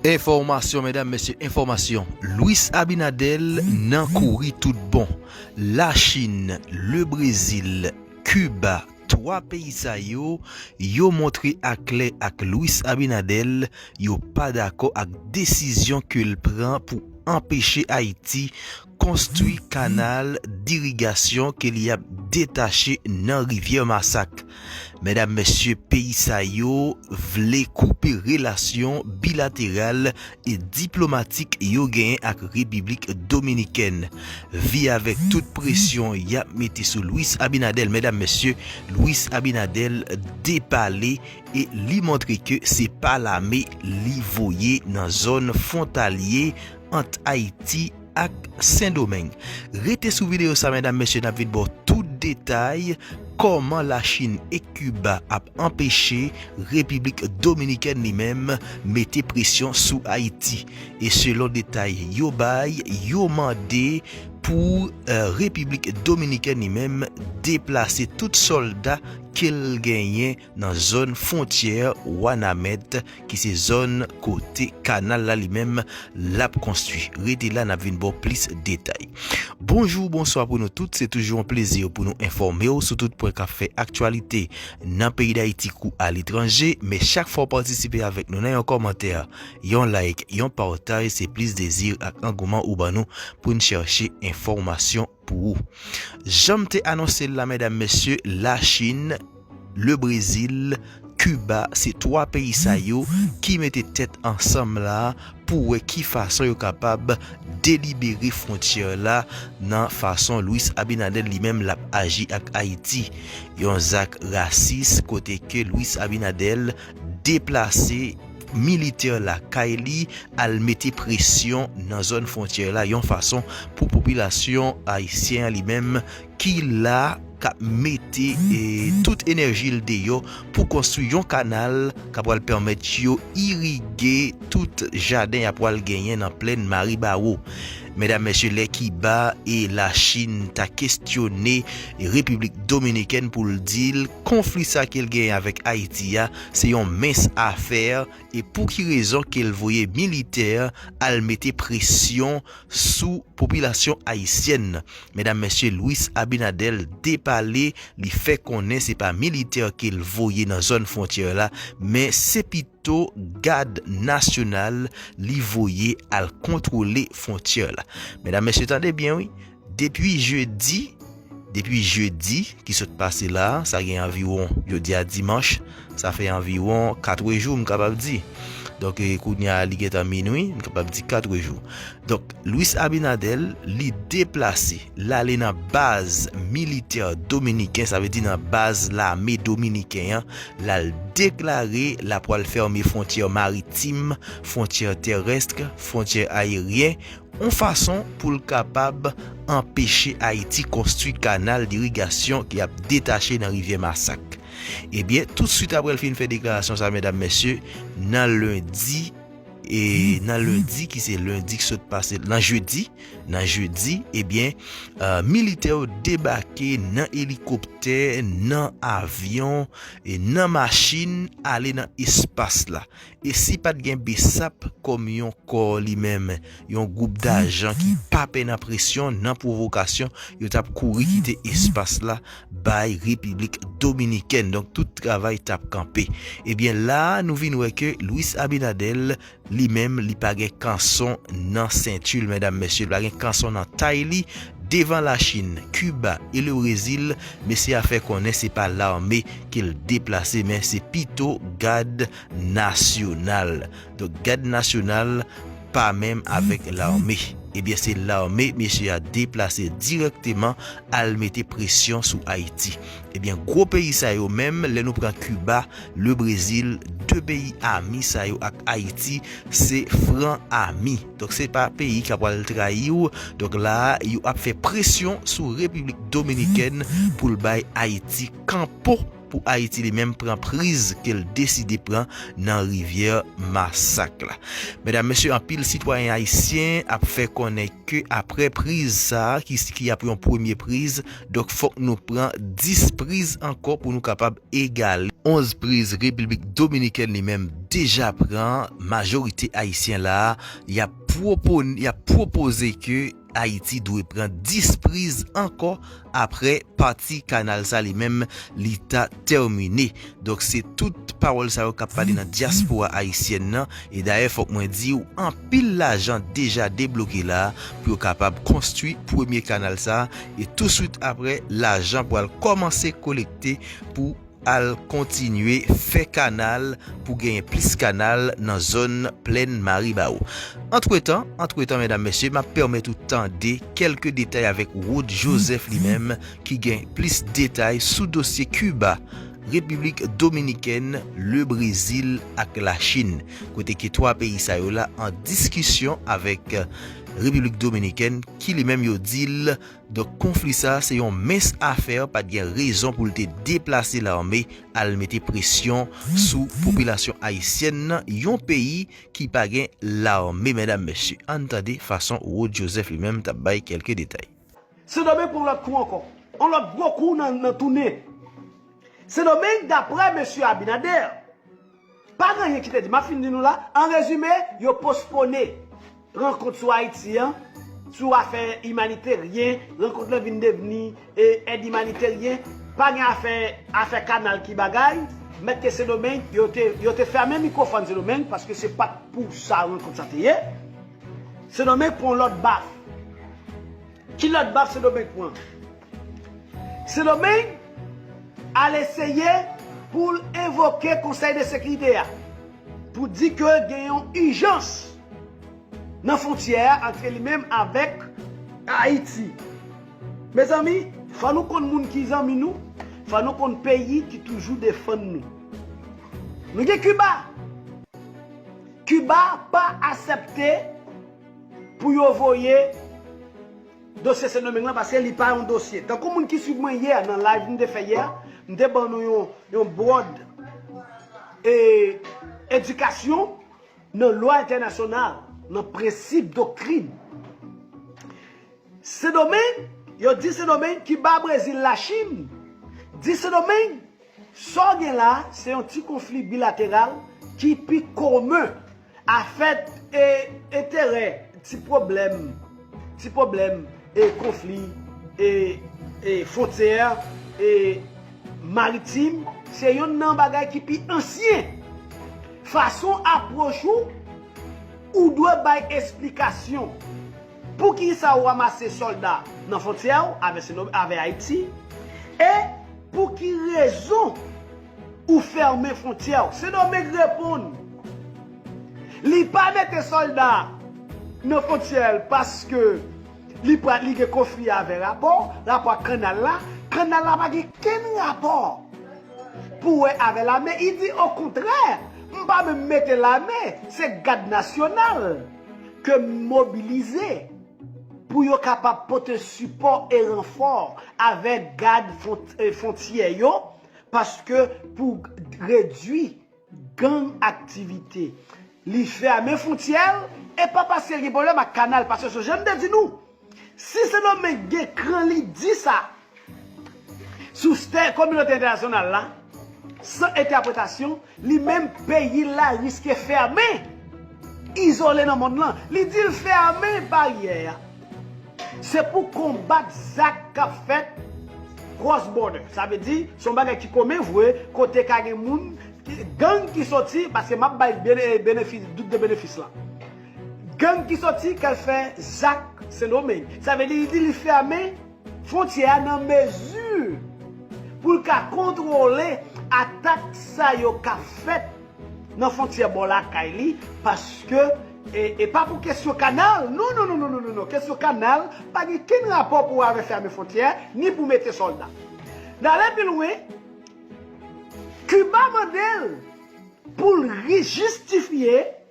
Enfòmasyon medam mesye enfòmasyon Luis Abinader nan kouri tout bon la chine le brezil Cuba 3 peyi sa yo yo montre a klè ak Luis Abinader yo pa dakò ak desizyon kel pran pou anpeche Ayiti konstwi kanal dirigasyon ke li ap detache nan rivyè masak. Medam mesye peyi sa yo vle koupe relasyon bilateral e diplomatik yo genyen ak repiblik dominikèn. Vi avèk tout presyon yap mete sou Luis Abinadel medam mesye Luis Abinadel depale e li montre ke se pa lame li voye nan zòn fontalye ant Ayiti ak Sendomeng. Rete sou videyo sa medam mesye nap vin baw tout detay kòman la Chin e Kiba ap anpeche Repiblik Dominikèn li menm mete presyon sou Ayiti. E selon detay yo bay yo mande pou Repiblik Dominikèn li menm deplase tout sòlda kel genyen nan zòn fwontyè Wanament ki se zòn kote kanal la li menm l ap konstwi. Rete la n ap vin ba w plis detay. Bonjou, bonswa pou nou tout, se toujou yon plezi pou nou enfòme w sou tout pwen k ap fè aktyalite nan peyi Dayiti kou aletranje. Men chak fwa w patisipe avèk nou nan yon kòmantè, yon like, yon pataj se plis dezi ak angouman ou ban nou pou n chache enfòmasyon pou ou. Janm te anonsel la medam mesye la chine, le brezil, Cuba se 3 peyi sa yo ki mete tèt ansanm la pou wè ki fason yo kapab delibere frontyè la nan fason Luis Abinader li menm lap aji ak Ayiti. Yon zak rasis kote ke Luis Abinader deplase militè lakay li al mete presyon nan zòn fwontyè la yon fason pou popilasyon ayisyen an li menm ki la k ap mete tout enèji l deyò pou konstwi yon kanal k ap pral pèmèt yo irige tout jaden y ap pral genyen nan plèn Maribawo. Medam mesye lè Kiba e la Chine ta kestyone Repiblik Dominikèn pou l di l konfli sa ke l genyen avèk Ayiti a se yon mens afè e pou ki rezon ke l voye militè al mete presyon sou popilasyon ayisyèn nan medam mesye Luis Abinader depale li fè konnen se pa militè ke l voye nan zòn fwontyè la men se pito to gad nasyonal li voye al kontwole fwontyè la. Medam mesye tande byen wi, depi jedi, depi jedi ki sot pase la, sa gen anviwon jodi a dimanch, sa fè anviwon 4 jou m kapab di. Donk kounya li gentan minwi, m kapab di 4 jou. Donk Luis Abinader li deplase l ale nan baz militè dominiken sa vle di nan baz lame dominiken an l al deklare l ap pral fèmen fwontyè maritim, fwontyè terèsk, fwontyè ayeryen yon fason pou l kapab anpeche Ayiti konstwi kanal dirigasyon ki ap detache nan rivyè masak. Ebyen toutsuit aprè l fin fè deklarasyon sa medam mesye nan lendi E nan lendi ki se lendi ki sot pase nan jedi, nan jedi ebyen eh militè yo debake nan elikoptè, nan avyon, e nan machin ale nan espas la. E si pat gen bsap kòm yon kò li menm, yon gwoup dajan ki pa pè nan presyon, nan pwovokasyon, yo tap kouri kite espas la. bay repiblik dominikèn donk tout travay tap kanpe ebyen la nou vin wè ke Luis Abinadel li menm li pa gen kanson nan sentil medam mesye li pa gen kanson nan tay li devan la chin Cuba e le brezil mesye a fè konnen se pa lame ke l deplase men se pito gad nasyonal. Donk gad nasyonal pa menm avèk lame. Ebyen se lame mesye a deplase dirèkteman al mete presyon sou Ayiti. Ebyen gwo peyi sa yo menm lè nou pran Kiba, le Brezil, 2 peyi ami sa yo ak Ayiti se fran ami. Donk se pa peyi ka pwal trayi w. Donk la a yo ap fè presyon sou Repiblik Dominikèn pou l bay Ayiti kanpo. pou Ayiti li menm pran priz ke l deside pran nan rivyè masak la. Medam, mesye, anpil sitwayen ayisyen ap fè konnen ke apre priz sa a, ki ap yon premye priz, donk fòk nou pran 10 priz ankò pou nou kapab egale 11 priz Repiblik Dominikèn li menm deja pran, majorite ayisyen la a y ap pwopoze ke. Ayiti dwe pran 10 priz ankò aprè pati kanal sa li menm li ta tèmine. Donk se tout pawòl sa yo k ap pale nan dyaspora ayisyèn nan. E dayè fòk mwen di w anpil lajan deja debloke la pou yo kapab konstwi premye kanal sa e touswit aprè lajan pral kòmanse kolekte pou al kontinye fè kanal pou genyen plis kanal nan zòn plèn Maribawou. Antretan, antretan medam mesye, m ap pèmèt ou tande kèlke detay avèk Rod Joseph li menm ki gen plis detay sou dosye Kiba, Repiblik Dominikèn, Le Brezil ak Lachin. Kote ke 3 peyi sa yo la an diskisyon avèk Repiblik Dominikèn ki li menm yo di l, Donk konfli sa se yon mens afè pat gen rezon pou l te deplase lame al mete presyon sou popilasyon ayisyèn nan yon peyi ki pa gen lame medam mesye ann tande fason Rod Joseph li menm tap bay kelke detay. Sendomeng pran yon lòt kou ankò. Yon lòt gwo kou nan tounen. Sendomeng daprè Mesye Abinader. Pa gen anyen ki te di. M ap fin di nou la. An rezime, yo pospone rankont sou Ayiti an, sou afè imanitaryen, rankont lan vin devni èd imanitaryen, pa gen afè afè kanal ki bagay, mèt ke Sendomeng, yo te fèmen mikwofòn Sendomeng paske se pa t pou sa rankont sa te ye. Sendomeng pran yon lòt baf. Ki lòt baf Sendomeng pran? Sendomeng al eseye pou l envoke konsèy de sekirite a pou di ke gen yon ijans nan fontyè a antre li menm avèk Ayiti. Mezanmi, fò nou konn moun ki zanmi nou, fò nou konn peyi ki toujou defann nou. Nou gen Kiba. Kiba pa asèpte pou yo voye. Dosye Sendomeng lan paske li pa yon dosye. Tankou moun ki swiv mwen yè nan live m te fè yè, m te ban nou yon bwòd edikasyon nan lwa entènasyonal, nan prensip, doktrin. Sendomeng, yo di Sendomeng, Kiba, Brezil, Lachin, di Sendomeng. Sa w gen la a se yon ti konfli bilateral ki pi komen, afè e enterè, ti pwoblèm, ti pwoblèm e konfli e e fwontyè e maritim se yonn nan bagay ki pi ansyen. Fason apwoch ou, ou dwe bay esplikasyon. Poukisa ou ramase solda nan fontyè ou avè Ayiti e pou ki rezon ou fèmen fontyè ou? Sendomeng reponn li pa mete solda nan fontyè l paske li pral li gen konfli avè rapò, rapò ak kannal la, kannal la pa gen kenn rapò pou wè avè lame, li di okontrè m pa menm mete lame se gad nasyonal. ke m mobilize pou yo kapab pote sipò e ranfò avèk gad fontyè yo paske pou redwi gang aktivite li fèmen fontyè l e pa paske l gen pwoblèm ak kanal paske se jan m te di nou Si Sendomeng gen kran li di sa sou stè kominote entènasyonal la san entèpretasyon, li menm peyi l la riske fèmen, izole nan mond lan. Li di l fèmen baryè a se pou konbat zak k ap fèt cross border. Sa vle di se yon bagay ki komen vre kote ka gen moun, gang ki soti, paske m ap bay benefis, dout de benefis la. Gang ki soti kal fè zak sendomeng. Sa vle di li di li fème fontyè a nan mezi pou l ka kontwole atak sa yo k ap fèt nan fontyè bò lakay li paske e pa pou kesyon kanal non non non non non kesyon kanal pa gen kenn rapò pou avè fème fontyè ni pou mete sòlda. N ale pi lwen Kiba mande l pou l rijistifye.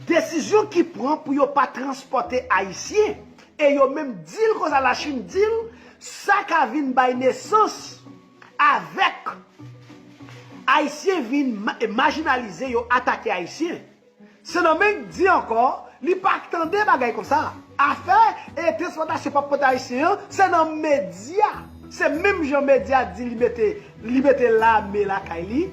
Desizyon ki pran pou yo pa transpòte Ayisyen e yo menm di l konsa Lachin di l sa ka vin bay nesans avèk Ayisyen vin majinalize yo atake Ayisyen. Sendomeng di ankò li pa k tande bagay konsa. Afè e transpòtasyon pa pote Ayisyen an se nan medya. Se menm jan medya di li mete Li mete lame lakay li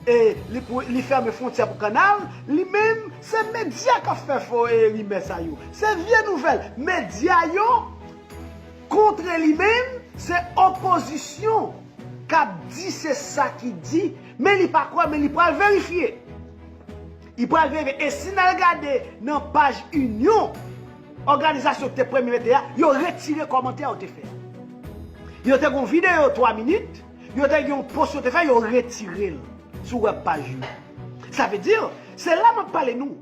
e li fèmen fwontyè pou kannal li menm se medya kap fè fo rimè sa yo se vye nouvèl medya yo kontre li menm se opozisyon kap di se sa ki di men li pa kwè men li pral verifye li pral verifye e si nal gade nan paj inyon. Òganizasyon ki te premye mete a, yo retire kòmantè yo te fè a. Yo te gen yon videyo 3 minit, yo te gen yon post yo te fè, yo retire l sou wèb paj yo. Sa vle di, se la m ap pale nou,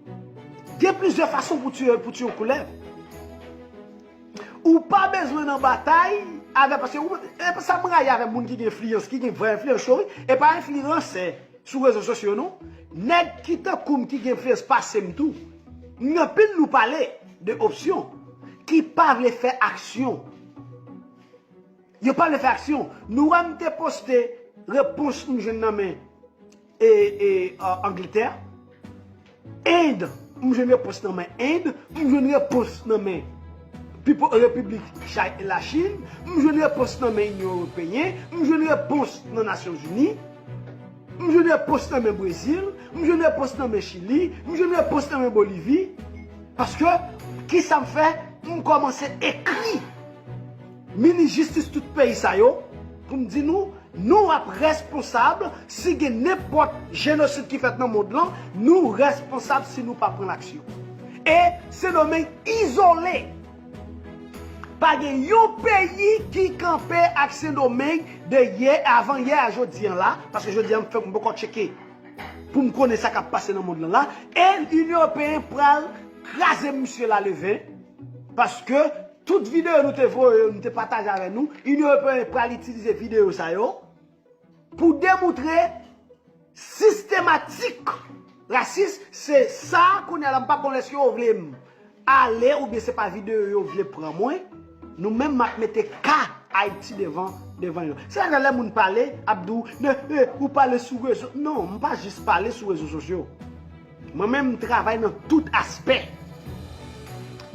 gen plizyè fason pou tiye yon koulèv. Ou pa bezwen nan batay avè, paske ou, e sa m rayi avè moun ki gen enfliyans, ki gen vrè enfliyans yo wi, e pa enfliransè. sou rezo sosyo non nèg ki tankoum ki gen plis pasem tou ni anpil nou pale de opsyon ki pa vle fè aksyon yo pa vle fè aksyon nou wèm te poste repons m jwenn nan men e e anglitè. End, M jwenn repons nan men End, M jwenn repons nan men Pipo Repiblik Chay Lachin, M jwenn repons nan men Inyon Ewopeyen, M jwenn repons nan Nasyon Zini, M jwenn repons nan men Brezil, M jwenn repons nan men Chili, M jwenn repons nan men Bolivi. Paske, kisa m fè? M kòmanse ekri. Minis jistis tout peyi sa yo pou m di nou nou ap responsab si gen nenpòt jenosid ki fèt nan mond lan nou responsab si nou pa pran aksyon e sendomeng izole pa gen yon peyi ki kanpe ak sendomeng de yè avan yè a jodi an la paske jodi an m fèk m poko tcheke pou m konnen sa kap pase nan mond lan la e inyon ewopeyen pral kraze misye la levè paske Tout videyo nou te voye yo, nou te pataje avè nou, Inyon Ewopeyen pral itilize videyo sa yo pou demoutre sistematik rasis, se sa kounye a la m pa konnen èske yo vle m ale oubyen se pa videyo yo vle pran mwen, nou menm m ap mete ka Ayiti devan devan yo. Se sa k fè lè moun pale, ap di w, men, ou pale sou rezo, non, m pa jis pale sou rezo sosyo. Mwen menm m travay nan tout aspè.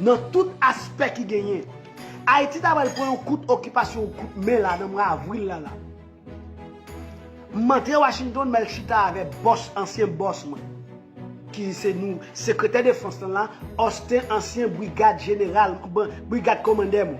Nan tout aspè ki genyen. Ayiti ta pral pran yon kout okipasyon, yon kout men la nan mwa avril la la. M antre Washington, m al chita avè bòs, ansyen bòs mwen. Ki se nou, sekretè defans lan la, Austin, ansyen brigad jeneral, brigad komandè mwen.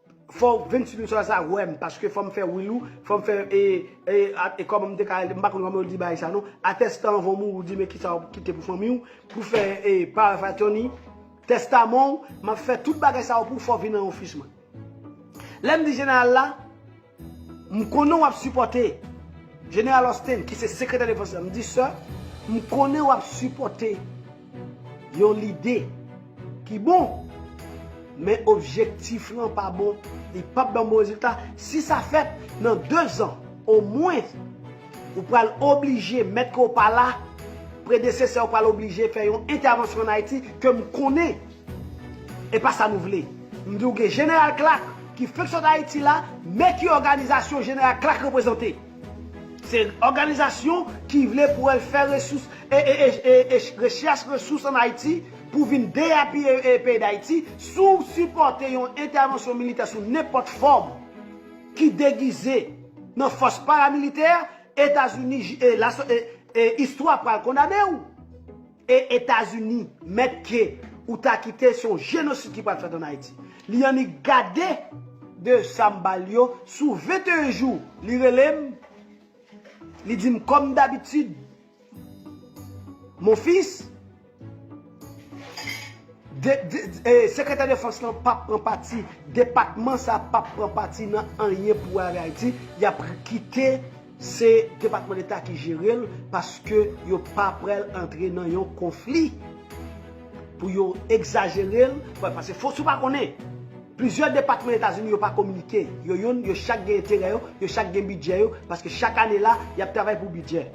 Fò 26 min sòlèy sa wèm paske fòm fè wil ou fòm fè e e e kòman m te ka m pa konn kòman yo di bagay sa non a tèstan anvan w mouri w di men kisa w kite pou fanmi w pou fè e power of attorney tèstaman w m ap fè tout bagay sa yo pou w fò w vin nan ofis mwen lè m di jeneral la M konnen w ap sipòte Jeneral Austin ki se Sekretè Defans la. M di, Sir, m konnen w ap sipòte yon lide ki bon, men objektif lan pa bon, li pap ban bon rezilta. Si sa fèt, nan dezan, omwen, ou pral oblije, mèt ke w pa la, predesesè w pral oblije fè yon entèvansyon ann Ayiti, ke m konnen Epa sa nou vle. M diw gen General Clark ki fenk sot Ayiti la, men ki òganizasyon General Clark reprezante. Se òganizasyon ki vle pou al fè resous rechèch resous an Ayiti pou vin deyapiye peyi Dayiti si w sipòte yon entèvansyon militè sou nenpòt fòm ki degize nan fòs paramilitè Etazini istwa pral kondane w. E etazini mèt ke ou ta kite se yon jenosid ki pral fèt an ayiti. Li annik gade de sam bal yo sou 21 jou li relem li dim kòm dabitid mon fils sekretè defans lan pap pran pati depatman sa pap pran pati nan anyen pou ale ayiti yap kite Se depatman deta ki jerel paske yo pa pral antre nan yon konfli pou yo egzajerel paske fo si w pa konnen plizyè depatman etazini yo pa kominike yo yonn yo chak gen enterè yo yo chak gen bidjè yo paske chak ane la yap travay pou bidjè.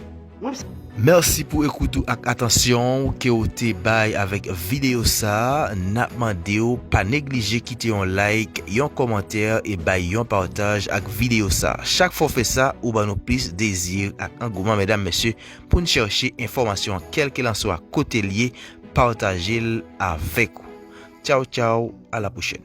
Merci pou ekout ou ak atansyon ou ke ou te bay avèk videyo sa a. Nap mande w pa neglije kite yon like, yon kòmantè e bay yon pataj ak videyo sa. Chak fwa w fè sa, ou ban nou plis dezi ak angouman medam mesye pou n chèche enfòmasyon an kèlkelanswa kote l ye, pataje l avèk ou. Tchaw tchaw, a la pwochèn.